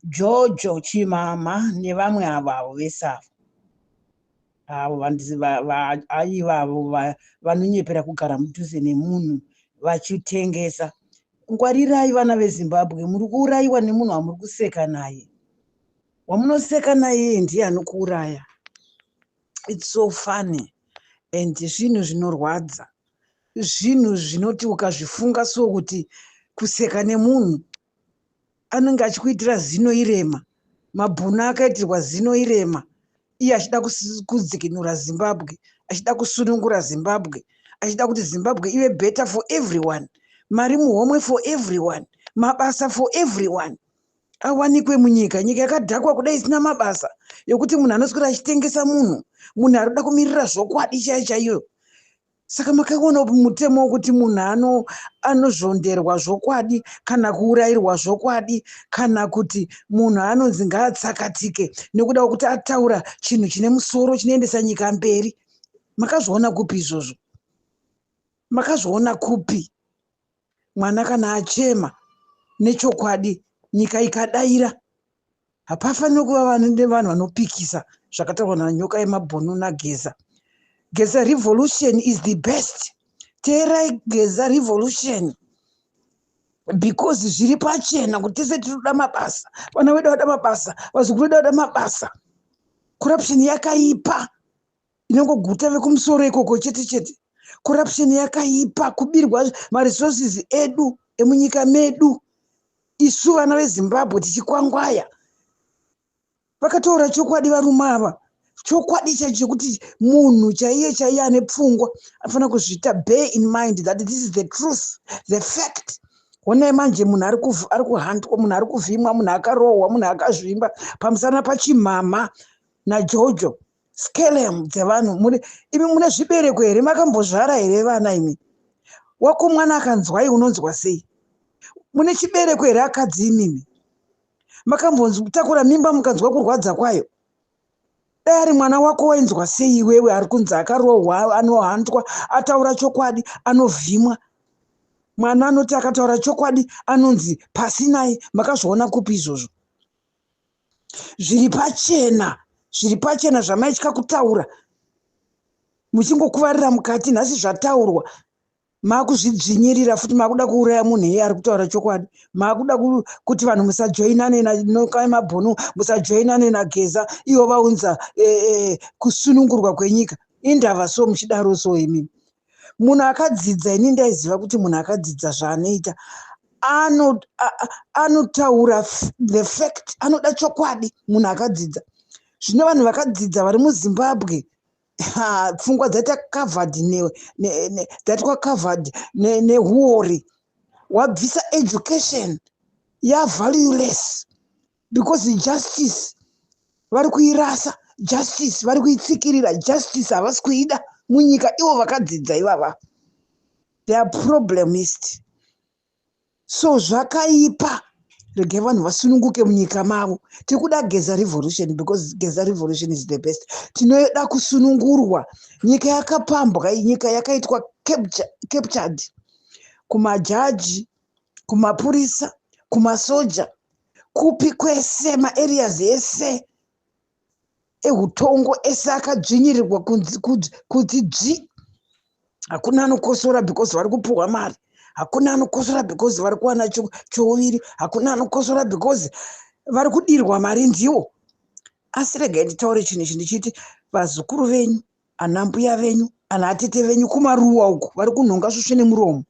Jojo chimama nevamwe avo avo vese avo avo vandizi ivavo vanonyepera kugara mudhuze nemunhu vachitengesa ngwarirai vana vezimbabwe muri kuurayiwa nemunhu wamuri kuseka naye wamunoseka naye ndiye anokuuraya its so funny and zvinhu zvinorwadza zvinhu zvinoti ukazvifunga so kuti kuseka nemunhu anenge achikuitira zino irema mabhuna akaitirwa zino irema iye achida kudzikinura zimbabwe achida kusunungura zimbabwe achida kuti zimbabwe ive better for everyone mari muhomwe for everyone mabasa for everyone awanikwe munyika nyika yakadhakwa kuda isina mabasa yokuti munhu anoswera achitengesa munhu munhu ari kuda kumirira zvokwadi chaiyo chaiyo saka makaona upi mutemo wokuti munhu ano anozvonderwa zvokwadi kana kuurayirwa zvokwadi kana kuti munhu anonzi ngaatsakatike nekuda kwekuti ataura chinhu chine musoro chinoendesa nyika mberi makazviona kupi izvozvo makazviona kupi mwana kana achema nechokwadi nyika ikadaira hapafanire kuva vanhu vanopikisa zvakataurwa nanyoka yemabhunu nageza geza revolution is the best teerai geza revolution because zviri pachena kuti tese tinoda mabasa vana vedu vada mabasa vazukuru vedu vada mabasa corruption yakaipa inongoguta vekumusoro ikoko chete chete corruption yakaipa kubirwa maresources edu emunyika medu isu vana vezimbabwe tichikwangwaya vakataura chokwadi varume ava chokwadi chaicho chekuti munhu chaiye chaiye ane pfungwa anofanira kuzviita bear in mind that this is the truth the fact honai manje munhu ari kuhandwa munhu ari kuvhimwa munhu akarohwa munhu akazvimba pamusana pachimhamha najojo skelem dzevanhu muri imi mune zvibereko here makambozvara here vana imi wako mwana akanzwai unonzwa sei mune chibereko here akadzi imimi makambontakura mimba mukanzwa kurwadza kwayo dai ari mwana wako wainzwa sei iwewe ari kunzi akarohwa anohandwa ataura chokwadi anovhimwa mwana anoti akataura chokwadi anonzi pasinai makazviona kupi izvozvo zviri pachena zviri pachena zvamaitya kutaura muchingokuvarira mukati nhasi zvataurwa makuzvidzvinyirira futi makuda kuuraya munhu iye ari kutaura chokwadi makuda kuti vanhu musajoinane nanokai mabhunu musajoinane nageza ivo vaunza e, e, kusunungurwa kwenyika indava so muchidaro so imimi munhu akadzidza ini ndaiziva kuti munhu akadzidza zvaanoita anotaura the fact anoda chokwadi munhu akadzidza zvino vanhu vakadzidza vari muzimbabwe pfungwa dzaita covered dzaitwa covered nehuori wabvisa education yavalueless because justice vari kuirasa justice vari kuitsikirira justice havasi kuida munyika ivo vakadzidza ivava their problem ist so zvakaipa regai vanhu vasununguke munyika mavo tiri kuda geza revolution because geza revolution is the best tinoda kusunungurwa nyika yakapambwa nyika yakaitwa captured kumajaji kumapurisa kumasoja kupi kwese maareas ese eutongo ese akadzvinyirirwa kuti dzvi hakuna anokosora because vari kupuhwa mari hakuna anokosora because vari kuwana chouviri hakuna anokosora because vari kudirwa mari ndiwo asi regai nditaure chinhu ichi ndichiti vazukuru venyu anambuya venyu anaatete venyu kumaruwa uku vari kunhonga svusve nemuromo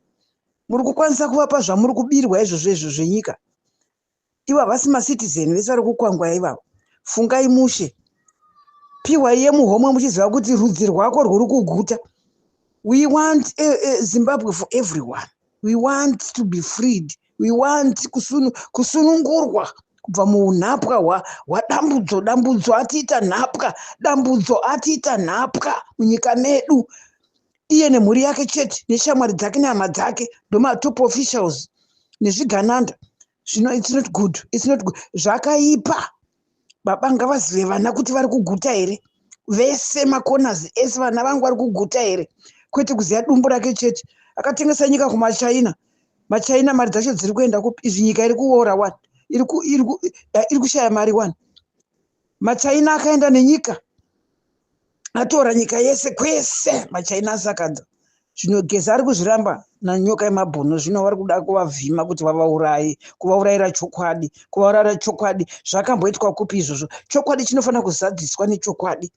muri kukwanisa kuvapa zvamuri kubirwa izvozvo izvo zvenyika ivo havasi macitizen vese vari kukwangwaya ivavo fungai mushe piwa iye muhomwe muchiziva kuti rudzi rwako rwuri kuguta we want a, a zimbabwe for everyone we want to be freed we want kusunu, kusunungurwa kubva muunhapwa hwadambudzo dambudzo atiita nhapwa dambudzo atiita nhapwa munyika medu iye nemhuri yake chete neshamwari dzake nehama dzake ndomatopo officials nezvigananda zvino it's not good it's not good zvakaipa baba ngavazive vana kuti vari kuguta here vese macorners ese vana vangu vari kuguta here kwete kuziva dumbu rake chete akatengesa nyika kumachina machina mari dzacho dziri kuenda kupi izvi nyika iri kuora one iri eh, kushaya mari one machina akaenda nenyika atora nyika yese kwese machaina asakadza zvino geza ari kuzviramba nanyoka yemabhuno zvino vari kuda kuvavhima kuti vavauraye kuvaurayira chokwadi kuvaurayira chokwadi zvakamboitwa kupi izvozvo chokwadi chinofanira kuzadziswa nechokwadi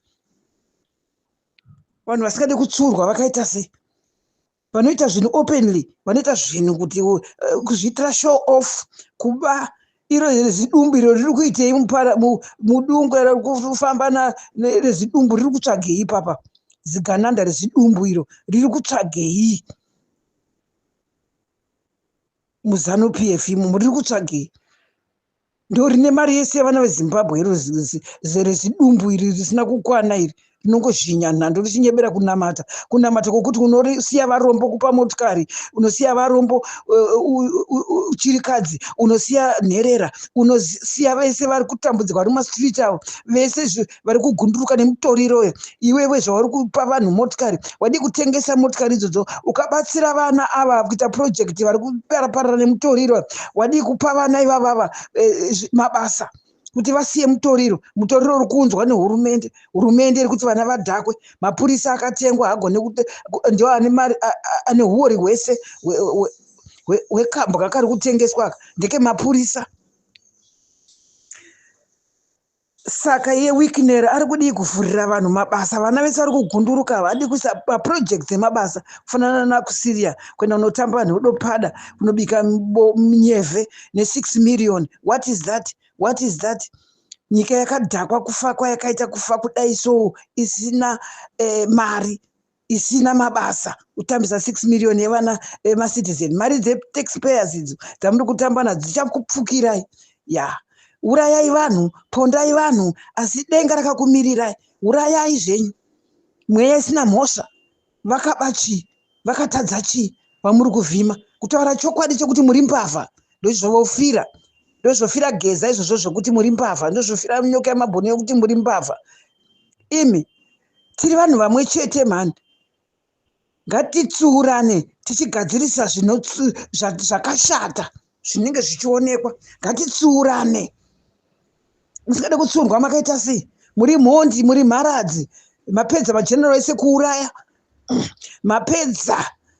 vanhu vasingadi kutsurwa vakaita sei vanoita zvinhu openly vanoita zvinhu kuti uh, kuzviitira show off kuba iro rezidumbu iro riri kuitei mudungu iro kufamba rezidumbu riri kutsvagei ipapa zigananda rezidumbu iro riri kutsvagei muzanu p f imomo riri kutsvagei ndorine mari yese yevana vezimbabwe iro zidumbu iri risina kukwana iri rinongozhinya nhando richinyebera kunamata kunamata kwokuti unosiya varombo kupa motikari unosiya varombo chirikadzi unosiya nherera unosiya vese vari kutambudzirwa vari mumastreet avo vese vari kugunduruka nemutoriro uyo iwewe zvauri kupa vanhu motikari wadii kutengesa motikari idzodzo ukabatsira vana ava kuita project vari kuparaparara nemutoriro wadii kupa vana ivavava eh, mabasa kuti vasiye mutoriro mutoriro uri kuunzwa nehurumende hurumende iri kuti vana vadhakwe mapurisa akatengwa hagone ndio ane mari ane huori hwese hwekambwa kari kutengeswa aka ndekemapurisa Saka iye Wicknell ari kudii kuvhurira vanhu mabasa? Vana vese vari kugunduruka havadi kuisa maprojects emabasa kufanana nakuSyria kuenda kunotamba nhodopada kunobika nyevhe ne6 million. What is that? What is that? Nyika yakadhakwa kufa kwayakaita kufa kudai so isina eh, mari. isina mabasa kutambisa 6 million yevana vemacitizen mari dzetaxpayers idzo dzamuri kutamba nadzo dzichakupfukirai ya urayai vanhu pondai vanhu asi denga rakakumirirai urayai zvenyu mweya isina mhosva vakaba chii vakatadza chii vamuri kuvhima kutaura chokwadi chekuti muri mbavha ndozvovofira ndozvofira geza izvozvo zvokuti muri mbavha ndozvofira nyoka yemabhoni yokuti muri mbavha imi tiri vanhu vamwe chete mhani ngatitsiurane tichigadzirisa zvakashata zvinenge zvichionekwa ngatitsiurane musingade kutsiurwa makaita sei muri mhondi muri mharadzi mapedza mageneral ese kuuraya mapedza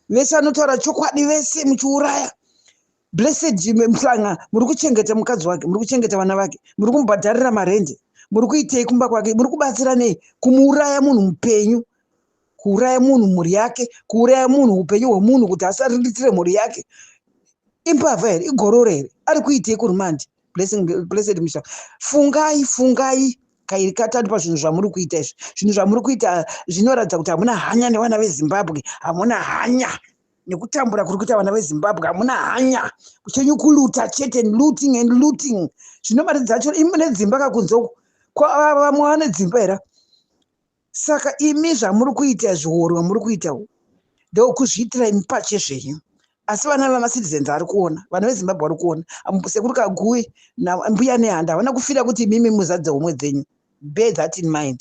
vese vanotaura chokwadi vese muchiuraya Blessed Jimmy Mhlanga muri kuchengeta mukadzi wake, muri kuchengeta vana vake, muri kumubhadharira marendi, muri kuitei kumba kwake, muri kubatsira nei kumuuraya munhu mupenyu, kuuraya munhu mhuri yake, kuuraya munhu upenyu hwemunhu kuti asariritire mhuri yake. Imbavha here? Igororo here? Ari kuitei kurumandi? Blessing, blessed Mhlanga, fungai, fungai kairi katatu pazvinhu zvamuri kuita izvi. Zvinhu zvamuri kuita zvinoratidza kuti hamuna hanya nevana veZimbabwe, hamuna hanya. nekutambura kuri kuita vana vezimbabwe hamuna hanya kuchenyu kuluta chete looting and looting zvino mari dzacho imi nedzimba kakunzoko vamwe vane dzimba here saka imi zvamuri kuita zviorwa muri kuita ndokuzviitira imi pache zvenyu asi vana vemacitizens ari kuona vana vezimbabwe vari kuona sekuru kagui nambuya nehanda havana kufira kuti imimi muzadze homwe dzenyu bear that in mind